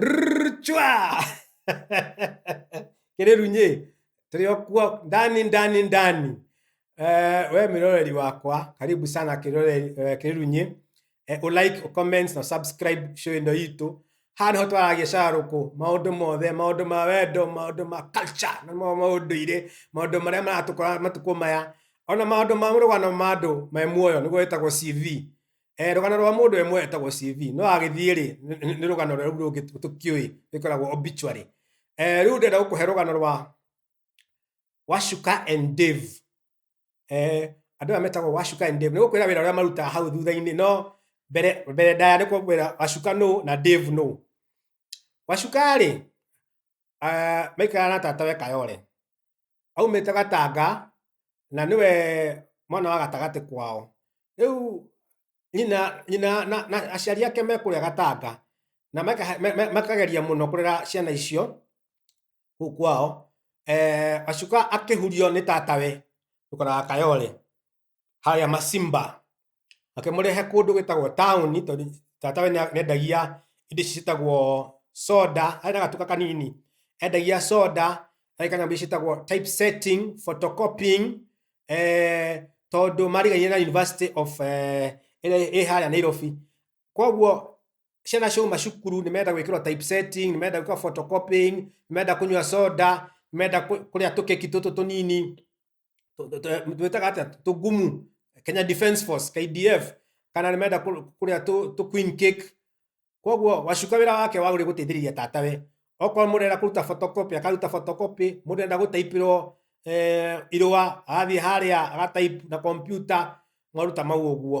Rrrchwa! Kirerunye, tuliokuwa ndani ndani ndani. Eh, we miroreri wakwa, karibu sana kiroreri eh, kirerunye. Eh, u like, u comment na subscribe show ino itu. Hano ho twaragia sharuku, maundu mothe, maundu ma wendo, maundu ma culture, na ma maundu ire, maundu maria maratukora matuko maya. Ona maundu ma murugano ma andu me muoyo niguo wetagwo CV. eh rugano rwa mundu emwe etagwo CV no agithie ri ni rugano rwa ru rungi tukiui ikoragwo obituary eh riu ndenda gukuhe rugano rwa Washuka and Dave eh andu aya metagwo Washuka and Dave ni gukwira wira uria marutaga hau thutha-ini no mbere mbere ndaya ni kukwira Washuka no na Dave no Washuka ri uh, maikara na tatawe kayore aumĩte gatanga na nĩwe mwana wa gatagatĩ kwao rĩu nyina nyina na, na aciari ake me kũrĩa gatanga na maka- me- me- makageria mũno kũrera ciana icio kũu kwao eh, acuka akĩhurio nĩ tatawe tũkoraga kayole harĩa Macimba. Makĩmũrehe kũndũ gwĩtagwo taũni tondũ tata we nĩa- nĩendagia indo ici ciĩtagwo soda, harĩ na gatuka kanini. Endagia soda, harĩ kanyamũ ici ciĩtagwo typesetting, photocopying, eh, tondũ marigainie na University of eh, ĩrĩa ĩ harĩa Nairobi. Koguo ciana ciauma cukuru nĩ menda gwĩkĩrwo typesetting, nĩ menda gwĩkĩrwo photocopying, nĩ menda kũnyua soda, nĩ menda kũ- kũrĩa tũkeki tũtũ tũnini. tu- tu- tu- twĩtaga atĩa tũgumu kenya defense force kdf kana nĩmenda kũ- kũrĩa tũ tũ queen cake koguo wacuka wĩra wake wagũrĩ gũteithĩrĩria tatawe okorwo mũndũ enda kũruta photocopy akaruta photocopy mũndũ enda gũtaipĩrwo eh, irũa agathiĩ harĩa agataip na kompyuta maruta mau ũguo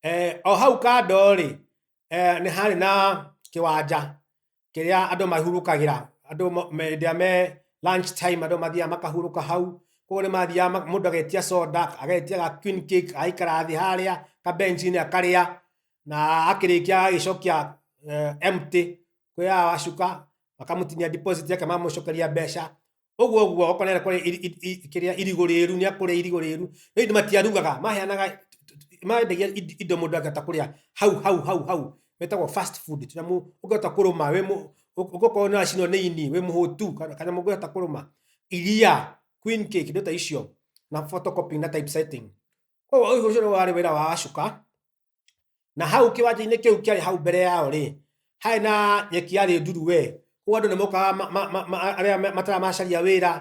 Eh, o hau kando rĩ eh, nĩ harĩ na kĩwanja kĩrĩa andũ mahurũkagĩra andũ mo- me- hĩndĩ ĩrĩa me lunch time andũ mathiaga makahurũka hau koguo nĩ mathiaga ma- mũndũ agetia soda agetia ga queen cake agaikara thĩ harĩa kabencinĩ akarĩa na akĩrĩkia agagĩcokia eh, empty kwĩya wacuka makamũtinia deposit yake mamũcokeria mbeca ũguo ũguo okorwo nĩ arenda kũrĩa iri- iri- iri- kĩrĩa irigũ rĩru nĩ akũrĩa irigũ rĩru no indi matiarugaga maheanaga mendagia ind- indo mũndũ angĩhota kũrĩa hau hau hau hau metagwo fast food tũnyamũ ũngĩhota kũrũma wĩ mũ- ũ- ũngĩkorwo nĩ wacinwo nĩ ini wĩ mũhũtu kana- kanyamũ ũngĩhota kũrũma iria queen cake indo ta icio na photocopy na typesetting koguo ũyũ ũcio nĩ warĩ wĩra wa acuka na hau kiwanja-inĩ kĩu kĩarĩ hau mbere yao rĩ harĩ na nyeki yarĩ nduru we koguo andũ nĩ mokaga ma- ma- ma- ma- arĩa ma- matara macaria wĩra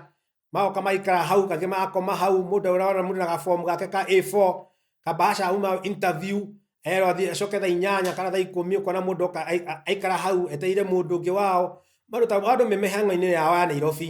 magoka maikara hau kangĩ magakoma hau mũndũ ũrona mũndũ na gabomu gake ka A4 kabahaca uma interview erwo athiĩ acoke thaa inyanya kana thaa ikũmi ũkona mũndũ oka ai- a- aikara hau etereire mũndũ ũngĩ wao andũ ta andũ me mĩhang'o-inĩ yao ya Nairobi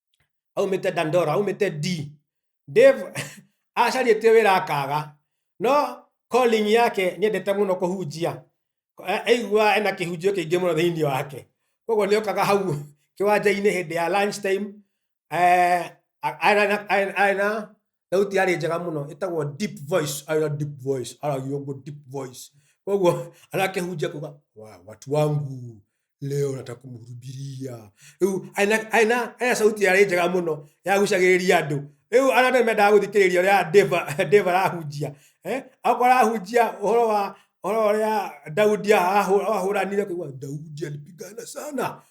aumĩte dandora aumĩte d dave acarĩtie wĩra akaga no calling yake nĩendete mũno kũhunjia A- aigua ena kĩhunjio kĩingĩ mũno thĩinĩ wake koguo nĩ okaga hau kĩwanja-inĩ hĩndĩ ya lunch time eh, a- arĩ na- arĩ- arĩ na thauti yarĩ njega mũno ĩtagwo deep voice aya deep voice aragia ũguo deep voice koguo arakĩhunjia kuga "Wa- watu wangu leo nataka kumhurubiria rĩu aina aina aina sauti yarĩ njega mũno yagucagĩrĩria andũ rĩu ana andũ mendaga gũthikĩrĩria ũrĩa Dave Dave arahunjia eh akorwo arahunjia ũhoro wa ũhoro ũrĩa Daudi ahũ- ahũranire kuga Daudi alipigana sana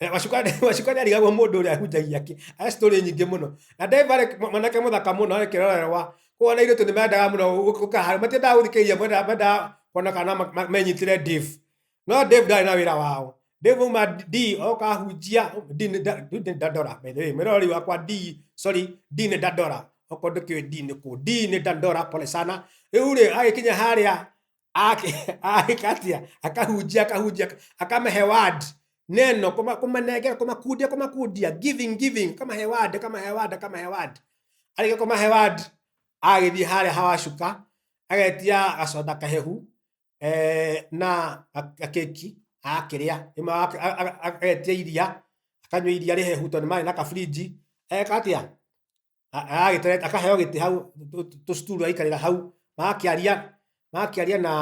Eh, Wacukani wacukani arigagwo mũndũ ũrĩa ahunjagia kĩ arĩ story nyingĩ mũno na Dave arĩ mwanake mũthaka mũno arĩ kĩrorerwa kuona irio tu nĩmendaga mũno gũkahara matiendaga gũthikĩrĩria mwendaga mendaga kuona kana ma- ma- menyitĩre Dave no Dave ndarĩ na wĩra wao Dave uma D oka ahunjia D nĩ nda- D nĩ ndandora by the way mwĩroreri wakwa D sorry D nĩ ndandora okorwo ndũkĩũĩ D nĩ kũ D nĩ ndandora pole sana rĩu rĩ agĩkinya harĩa akatia akahunjia akahunjia akamahe word neno kuma- kumanengera kumakundia kumakundia giving giving kamahe word kamahe word kamahe word arĩkia kũmahe word agĩthiĩ harĩa hawacuka agetia gacoda kahehu eh, na ga- keki akĩrĩa Rĩmwe aka- a- a- a- agetia iria akanyua iria rĩhehu tondũ nĩ marĩ na kaburinji eka atĩa A- agagĩtere- akaheo gĩtĩ hau tũ- tũ- tũcuturu aikarĩra hau magakĩaria magakĩaria na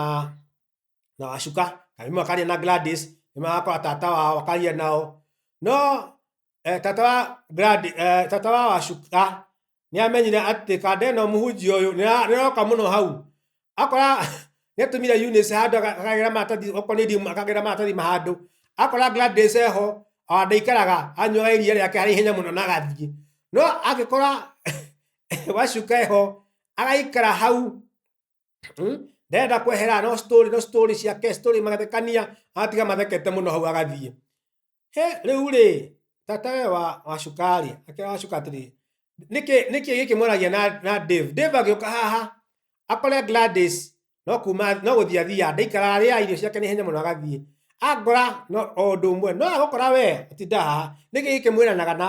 na wacuka kana rĩmwe akaria na Gladys rĩmwe agakora tata wao akaria nao no eh, tata wa Gladys, eh, tata wa wacuka nĩamenyire atĩ kandeno mũhunjia ũyũ nĩra- nĩroka mũno hau akora nĩatũmire Eunice handũ aga- akagĩra maratathi okorwo nĩ ndimũ akagĩra maratathi ma handũ akora Gladys eho ah, ndaikaraga anyuaga iria rĩake harĩ ihenya mũno na agathiĩ no angĩkora wacuka eho agaikara hau mm, ndarenda kwehera no story no story ciake story magathekania agatiga mathekete mũno hau agathiĩ he rĩu rĩ tata we wa wa cukari akĩra wa cuka atĩrĩ nĩkĩ nĩkĩ gĩkĩ mwaragia na na Dave Dave agĩũka haha akore Gladys no kuma no gũthia thia ndaikara arĩa irio ciake nĩ henya mũno agathiĩ angora no o ũndũ ũmwe no agũkora we atinda haha nĩkĩ gĩkĩ mwĩranaga na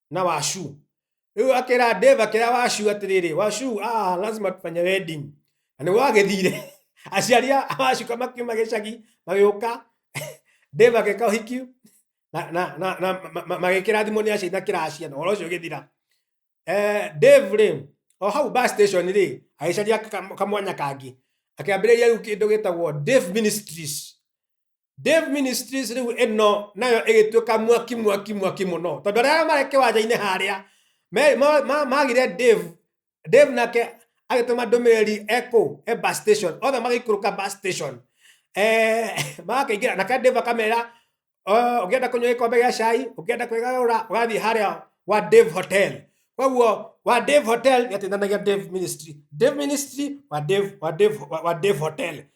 na washu rĩu akĩra dave akĩra washu atĩrĩrĩ washu ah, lazima tufanye wedding na nĩguo agĩthire aciari a wacuka makiuma gĩcagi magĩũka dave agĩka ũhiki na- na- na- na- ma- ma- magĩkĩra thimũ nĩ aciari na kĩracia na ũhoro ũcio ũgĩthira Eh, dave rĩ o hau bus station rĩ agĩcaria ka- kamwanya kangĩ akĩambĩrĩria rĩu kĩndũ gĩtagwo dave ministries Dave Ministries riu ĩno nayo ĩgĩtuĩka mwaki mwaki mwaki mũno tondũ arĩa marĩ kĩwanja-inĩ harĩa me- ma- ma- magire Dave Dave nake agĩtũma ndũmĩrĩri eko e bus station othe magĩikũrũka bus station eh, magakĩingĩra nake Dave akamera "Oh, ũngĩenda kũnyua gĩkombe gĩa cai ũngĩenda kwĩgarũra ũgathiĩ harĩa wa Dave Hotel koguo wa Dave Hotel nĩateithanagia Dave Ministry Dave Ministry wa Dave wa Dave wa wa Dave Hotel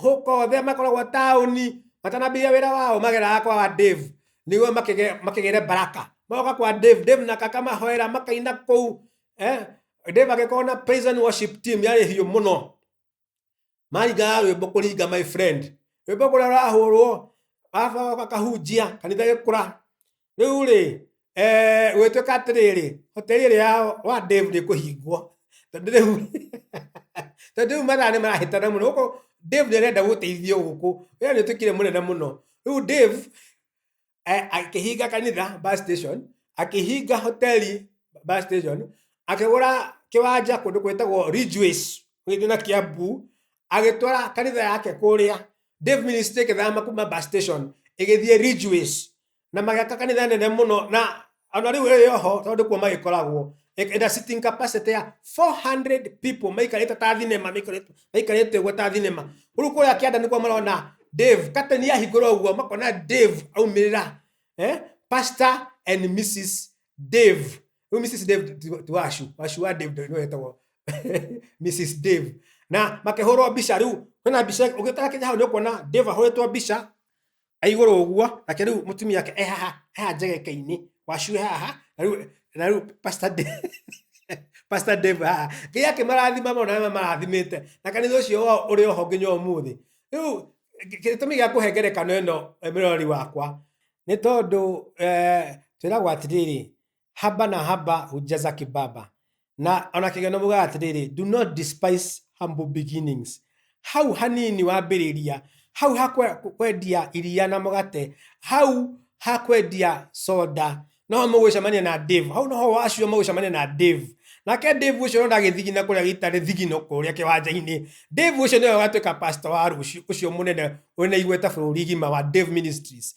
hũka othe makoragwo taũni matanambĩrĩria wĩra wao mageraga kwa Dave nĩguo makĩgĩre baraka magoka kwa Dave Dave na kaka mahoera makaina kũu eh Dave agĩkorwo na praise and worship team yarĩ hiũ mũno maringaga rwĩmbo kũringa my friend rwĩmbo kũrĩa rwahũrwo baba akahunjia kanitha gĩkũra rĩu rĩ eh, gwĩtuĩka atĩrĩrĩ hoteli ĩrĩa ya wa Dave nĩ kũhingwo tondũ rĩu tondũ rĩu mathaa nĩ marahĩtana mũno gũkũ Dave nĩ arenda gũteithio gũkũ wĩra nĩ ũtuĩkire mũnene mũno rĩu Dave eh, akĩhinga kanitha bus station akĩhinga hoteli bus station akĩgũra kĩwanja kũndũ gwĩtagwo Ridgeways gũgĩthiĩ na Kiambu agĩtwara kanitha yake kũrĩa Dave Ministry ĩgĩthama kuma bus station ĩgĩthiĩ Ridgeways na magĩaka kanitha nene mũno na ona rĩu ĩrĩ oho tondũ kuo magĩkoragwo ĩna sitting capacity ya 400 people maikarĩte ta thinema maikarĩte- maikarĩte ũguo ta thinema rĩu kũrĩa kĩanda nĩkuo marona dave kateni yahingũra ũguo makona dave aumĩrĩra eh? pastor and mrs dave rĩu mrs dave ti- ti wacu wacu wa dave nĩwe wetagwo mrs dave na makĩhũrwo mbica rĩu hena mbica ũgĩtara kĩnya hau nĩ ũkuona dave ahũrĩtwo mbica aigũrũ ũguo nake rĩu mũtumia wake e haha haha njegeka-inĩ wacu e haha na rĩu na rĩu pastor Dave- pastor Dave haha ngai akĩmarathima mũno na marathimĩte na kanitha ũcio wao ũrĩ oho nginya ũmũthĩ rĩu gĩ- gĩtũmi gĩa kũhe ngerekano ĩno eh, mĩrori wakwa nĩ tondũ eh, twĩragwo atĩrĩrĩ haba na haba hujja za kibaba na ona kigano buga atiriri do not despise humble beginnings hau hanini wambĩrĩria hau ha kwe- kwendia iria na mũgate hau ha kwendia soda noho mũgwĩcemania na Dave hau noho wacio mũgwĩcemania na Dave nake Dave ũcio no ndagĩthigina kũrĩa gĩtarĩ thigino kũrĩa kĩwanja-inĩ Dave ũcio nĩwe ũgatuĩka pastor wa rũciũ ũcio mũnene ũrĩa naiguĩte bũrũri gima wa Dave Ministries